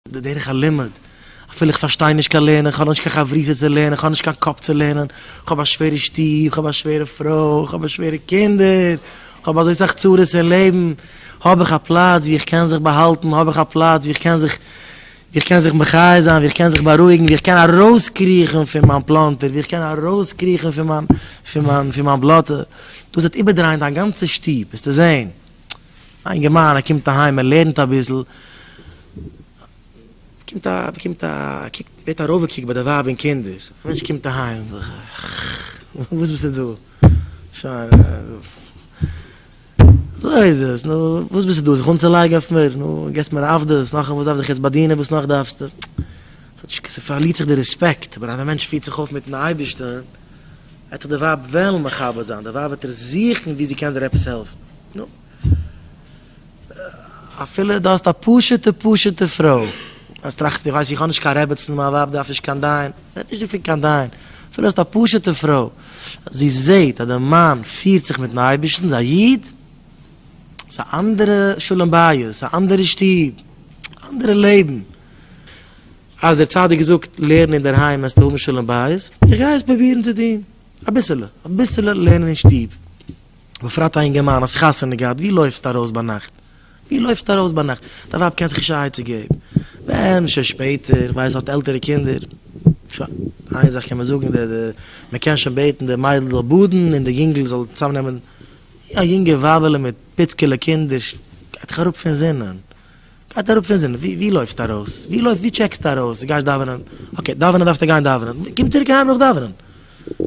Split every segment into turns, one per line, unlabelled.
די דרך הלימוד, אפילו איך פארשטיי נישט קיין לערנען, איך האב נאך נישט קיין חברותא צו לערנען, איך האב נישט קיין קאפ צו לערנען, איך האב א שווערע שטוב, איך האב א שווערע פרוי, איך האב שווערע קינדער, איך האב אזוי סאך צרות אין לעבן, האב איך א פלאץ וואו איך קען זיך באהאלטן, האב איך א פלאץ וואו איך קען זיך, וואו איך קען זיך מחיה זיין, וואו איך קען זיך בארואיגן, וואו איך קען ארויסקריכן פון מיין פלאנטער, וואו איך קען ארויסקריכן פון מיין, פון מיין, פון מיין בלאטע, דאס וועט איבערדרייען דיין גאנצע שטוב, וועסטו זען. א אינגערמאן ער קומט אהיים ער לערנט אביסל, באקומט א באקומט א קוקט ווערט ארויפגעקוקט ביי די ווייב און קינדער, א מענטש קומט אהיים, וואס ביסטו דא, שוין אזוי איז עס, נו וואס ביסטו דא זיך אנצולייגן אויף מיר, נו גיבסט מיר עבדות, נאכדעם וואס דארף איך יעצט באדינען וואס נאך דארפסטו, ס'פארלירט זיך די רעספעקט, אבער אז א מענטש פירט זיך אויף מיטן אייבערשטען, וועט זיך די ווייב וועלן מכבד זיין, די ווייב וועט דיר זוכן ווי זי קען דיר עפעס העלפן, נו, אפילו דו האסט א פשוטע פשוטע פרוי, אז טראכסט איך ווייס איך האב נישט קיין רעבעצן, מיין ווייב דארף נישט קיין דיין, רעדט נישט דא פון קיין דיין, אפילו האסט א פשוטע פרוי, אז זי זעט אז די מאן פירט זיך מיטן אייבערשטן, איז א איד, איז א אנדערע שלום בית, א אנדערע שטוב, אנדערע לעבן. אז דער צדיק זאגט לערן אינדערהיים העסטו האבן שלום בית, איך גיי עס פרובירן צו טון, אביסעלע אביסעלע לערנען אין שטוב, בפרט א אינגערמאן האסט חתונה געהאט, ווי לויפסטו ארויס ביינאכט, ווי לויפסטו ארויס ביינאכט, דיין ווייב קען זיך נישט א עצה געבן, ווען שוין שפעטער, איך ווייס האסט עלטערע קינדער, שוין, איין זאך קען מען זאגן, די די מען קען שוין בעטן די מיידל זאל באדן און די יונגל זאל צאמנעמען, א יונגע ווייבעלע מיט פיצקעלע קינדער גייט דאך אראפ פון זינען. גייט אראפ פון זינען, ווי לויפסטו ארויס? ווי לויפסט, ווי טשעקסטו ארויס? דו גייסט דאווענען? אקעי, דאווענען דארפסטו גיין דאווענען, קום צוריק אהיים נאך דאווענען,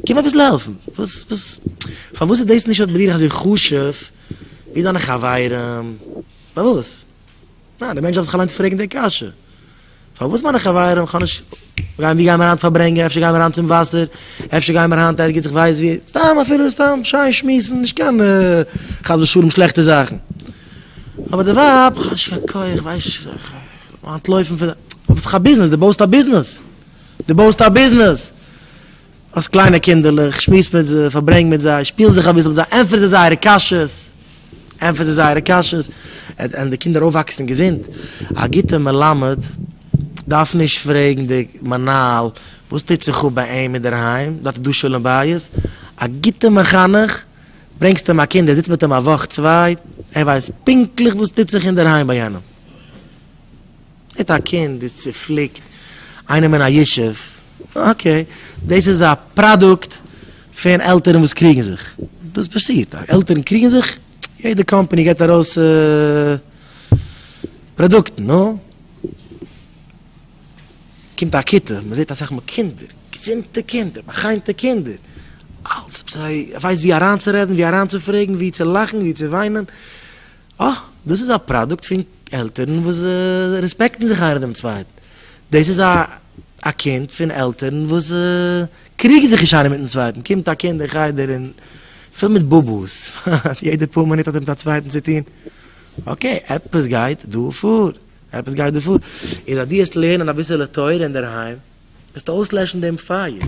קום אביסל העלפן, וואס, וואס, פארוואס איז דאס נישט ביי דיר אזוי חשוב ווי דיינע חברים? פארוואס? ניין, דער מענטש דארף זיך אליינס פרעגן די קשיא. פארוואס מיינע חברים? כ'האב נישט. ווי גייען מיר היינט פארברענגען? אפשר גייען מיר היינט צום וואסער? אפשר גייען מיר היינט ערגעץ איך ווייס ווי? סתם אפילו סתם שיין שמועסן, נישט קיין חס ושלום שלעכטע זאכן. אבער די ווייב, כ'האב נישט קיין כח, כ'ווייס נישט וואס איך זאל אנטלויפן פון. אבער ס'איז דאך א ביזנעס, דו בויסט א ביזנעס! דו בויסט א ביזנעס! האסט קליינע קינדערלעך, שמועס מיט זיי, פארברענג מיט זיי, שפיל זיך אביסל מיט זיי, ענטפער זיי זייערע קשיות, ענטפער זיי זייערע קשיות, וועלן די קינדער אויפוואקסן געזונט. א גוטע מלמד דארף נישט פרעגן די מנהל וואס טוט זיך אפ ביי אים אינדערהיים, דארט איז דא שלום בית. א גוטע מחנך, ברענגסט אים א קינד, ער זיצט מיט אים א וואך צוויי, ער ווייסט פונקטליך וואס טוט זיך אינדערהיים ביי יענעם. מיט א קינד איז צופליקט איינעם אין א ישוב, אקעי, דאס איז א פראדוקט פון עלטערן וואס קריגן זיך, דאס פאסירט, עלטערן קריגן זיך, יעדע קאמפאני געבט ארויס פראדוקטן, נו, קומט א כיתה, מען זעט אסאך מאל קינדער, געזונטע קינדער, באחיינטע קינדער, אלץ, זיי ווייסט ווי אריינצורעדן, ווי אריינצופרעגן, ווי צו לאכן, ווי צו וויינען. אה, דאס איז א פראדוקט פון עלטערן וואס רעספעקטן זיך איינער דעם צווייטן. דאס איז א א קינד פון עלטערן וואס קריגן זיך נישט איינער מיטן צווייטן. קומט א קינד אין חדר און פול מיט באבאס, יעדע פאר מינוט האט ער מיט א צווייטן צו טון. אקעי, עפעס גייט דא פאר. עפעס גייט דא פאר. און זייט דו העסט לערנען אביסעלע תורה אינדערהיים, וועסטו אויסלעשן דעם פייער.